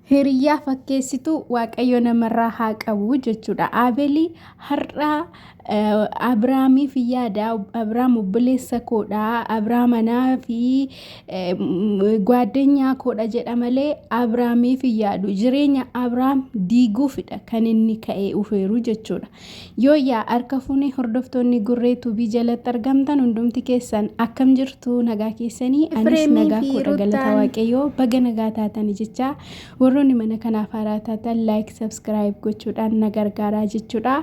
Hiriyyaa fakkeessitu waaqayyo namarraa haa qabu jechuudha. Aabelii har'aa Abiraamiif yaada. Abiraam obboleessa koodha. Abiraam anaa fi gwaaddenyaa koodha jedha malee Abiraamiif yaadu. Jireenya Abiraam diiguufidha kan inni ka'ee ufeeru jechuudha. Yooyyaa harka fuune hordoftoonni Gurree Tuubii jalatti argamtan hundumti keessan akkam jirtu nagaa keessanii anis Efreemii nagaa fi koodha galata Rutaan. waaqayyoo baga nagaa taatani jechaa warroonni mana kanaaf haaraa taatan like subscribe gochuudhaan na gargaaraa jechuudha.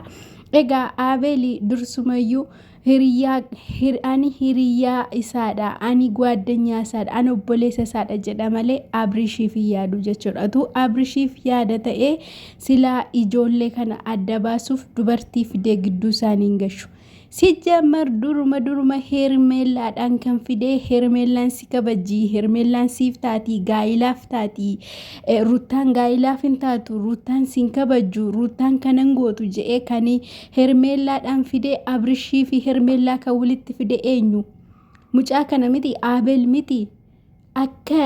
Egaa Aabeeli dursumayyuu Hiriyyaa, hir, ani hiriyyaa isaadha, ani gwaaddanyaa isaadha, ani obboleessa isaadha jedha malee Abrishiif hin yaadu jechuudha. Utuu Abrishiif yaada ta'ee silaa ijoollee kana adda baasuuf dubartii fidee gidduu isaanii hin gashu. Sijjamar duruma duruma hermeellaadhaan kan fidee hermeellaan si kabajii, hermeellaan siif taatii, gaa'ilaaf taatii, eh, ruttaan gaa'ilaaf hin taatu, ruttaan sin kabajju, ruttaan kanan gootu je'ee kan Hermeellaadhaan fidee Abrishii fi Hermeellaa kan walitti fide eenyu? Mucaa kana miti Aabel miti akka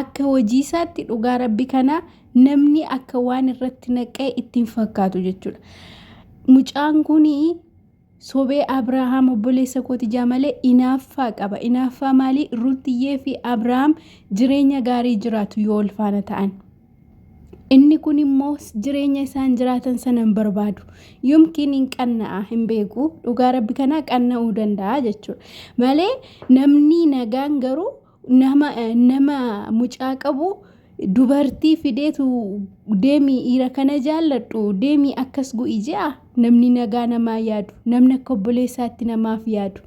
akka hojii isaatti dhugaa rabbi kana namni akka waan irratti naqee ittiin fakkaatu jechuudha. Mucaan kun sobee Abrahaam obboleessa kooti jaa malee inaaffaa qaba. Inaaffaa maalii? Rutiyyee fi Abrahaam jireenya gaarii jiraatu yoo ulfaana ta'an. Inni kun immoo jireenya isaan jiraatan sana hin barbaadu. Yomkiin hin qanna'a hin beeku. Dhugaa rabbi kanaa qanna'uu danda'a jechuudha. Malee namni nagaan garuu nama nama mucaa qabu dubartii fideetu deemii dhiira kana jaalladhu deemii akkas go'i je'a. Namni nagaa namaa yaadu, namni akka obboleessaatti namaaf yaadu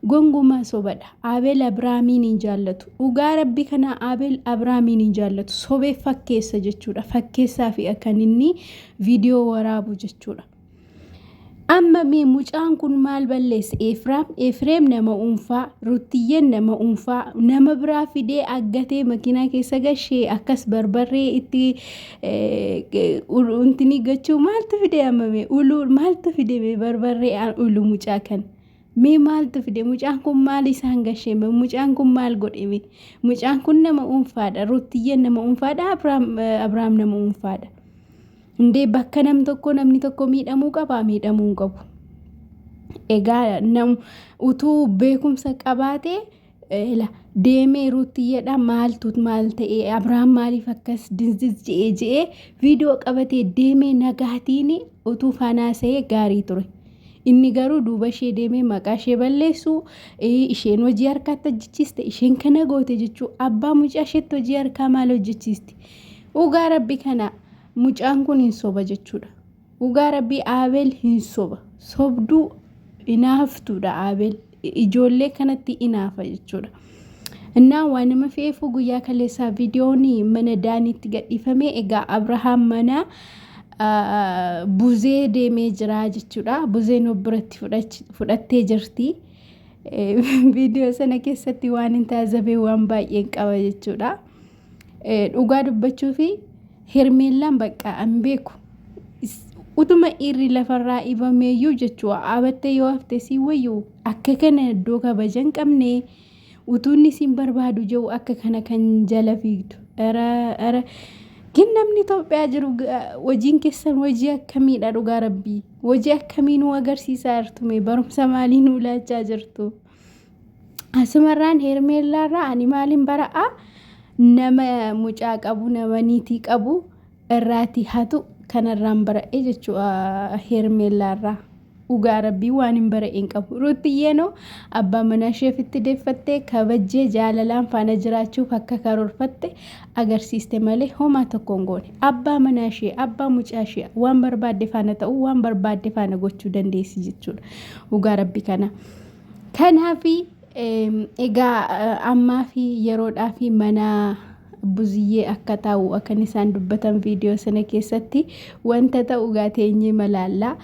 gongumaa sobadha. Abeel Abiraamiin hin jaallatu. Dhugaa rabbi kana Abeel Abiraamiin hin jaallatu. Sobee fakkeessa jechuudha. Fakkeessaa fi akkan inni viidiyoo waraabu jechuudha. Amma mee mucaan kun maal balleesse? Efraam, Efreem nama uunfaa, Ruttiyyeen nama uunfaa, nama biraa fidee aggatee makiinaa keessa gashee akkas barbarree itti Uluntinii gochuu maaltu fide ammame uluu maaltu fide mee barbarree aan uluu mucaa kan mee maaltu fide mucaan kun maal isaan gasheeme mucaan kun maal godheme mucaan kun nama unfaadha ruuttiyyeen nama unfaadha abrahaam nama unfaadha indee bakka nam tokko namni tokko miidhamuu qaba miidhamuu hin qabu egaa nam utuu beekumsa qabaatee Ela. Deemee ruuttiyyadha maaltu maal ta'e abrahaam maaliif akkas dinziz je'ee je'ee viidiyoo qabatee deemee nagaatiin utuu fanaasa'ee gaarii ture. Inni garuu duuba ishee deemee maqaa ishee balleessu isheen hojii harkaatti hojjechiiste isheen kana goote jechuu abbaa mucaa isheetti hojii harkaa maal hojjechiisti. Dhugaa rabbi kana mucaan kun hin soba jechuudha. Dhugaa rabbii Aabeel hin soba. Sobduu inaaftuudha Aabeel. Ijoollee kanatti inaafa jechuudha. Innaa waa nama fe'eefuu guyyaa kaleessaa viidiyoon mana daaniitti gadhiifame egaa Abrahaam mana buzee deemee jira jechuudha. Buzeen of biratti fudhattee jirti. Viidiyoo sana keessatti waan hin taasifamne waan baay'een qaba jechuudha. Dhugaa dubbachuuf Hermeellaan bakka an beeku utuma dhiirri lafarraa ibameeyyuu jechuu dhaabattee yoo hafte si wayyu akka kana iddoo kabaja hin qabne utuunni siin barbaadu jiru akka kana kan jala fiigdu. Ara gin namni Itoophiyaa jiru hojiin keessan hojii akkamiidha dhugaa rabbii hojii akkamii nu agarsiisaa jirtume barumsa maalii nu laachaa jirtu. Asumarraan Heermeellaarraa ani maalin bara'a nama mucaa qabu nama niitii qabu irraati hatu kanarraan bara'e jechuudha Heermeellaarraa. Dhugaa rabbii waan hin bara'een qabu. Ruuttiyyeenoo abbaa manaa isheef itti deeffattee kabajjee jaalalaan faana jiraachuuf akka karoorfatte agarsiiste malee homaa tokko hin goone. Abbaa manaa ishee, abbaa mucaa ishee waan barbaadde faana ta'uu, waan barbaadde faana gochuu dandeessi jechuudha. Dhugaa rabbii kana. Kanaafi egaa ammaa fi yeroodhaa fi mana buziyyee akka taa'u akkan isaan dubbatan viidiyoo sana keessatti wanta ta'u egaa teenyee malaallaa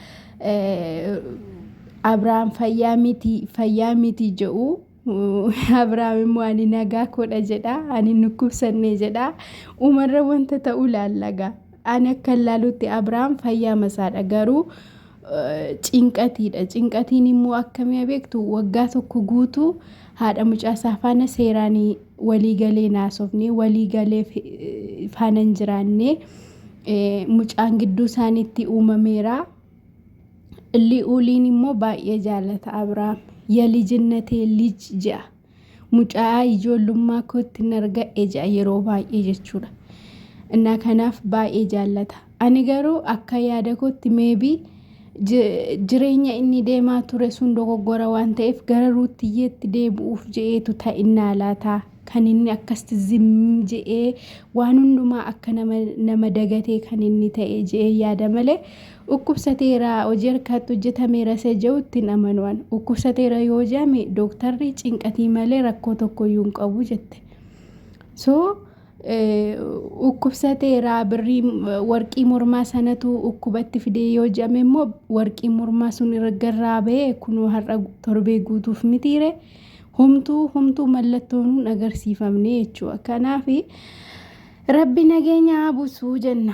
Abrahaam fayyaa miti fayyaa miti jedhu Abrahaam immoo ani nagaa koodha jedha ani nukkubsannee jedha uumarra wanta ta'u laallagaa. Ani akkan ilaalutti Abrahaam fayyaa masaadha garuu cinqatiidha. Cinqatiin immoo akkamii beektu waggaa tokko guutuu haadha mucaasaa faana seeraan walii galee naasofne walii galee faana hin jiraanne mucaan gidduu isaaniitti uumameera. Li'uuliin immoo baay'ee jaalata Abrahaam. Yalijinnateen lij je'a. Mucaa ijoollummaa kootti nargadhe ja'a yeroo baay'ee jechuudha. Innaa kanaaf baay'ee jaallata. Ani garuu akka yaada kootti meebii jireenya inni deemaa ture sun dogoggora waan ta'eef gara ruuttiyyeetti deebi'uuf je'eetu ta'innaa laataa kan inni akkasitti zim je'ee waan hundumaa akka nama, nama dagatee kan inni ta'e je'ee yaada malee Dhukkubsateera, hojii harkaatti hojjetameera isa ja'utti hin amanu an. Dhukkubsateera yoo ja'ame dooktarri cinqatii malee rakkoo tokkoyyuu hin qabu jette. So dhukkubsateera birrii warqii mormaa sanatu dhukkubatti fidee yoo ja'ame immoo warqii mormaa sun irgarraa ba'ee kunoo har'a torbee guutuuf mitiire homtuu homtuu mallattoon hin agarsiifamne jechuudha. Kanaaf rabbi nageenya haa buusuu jenna.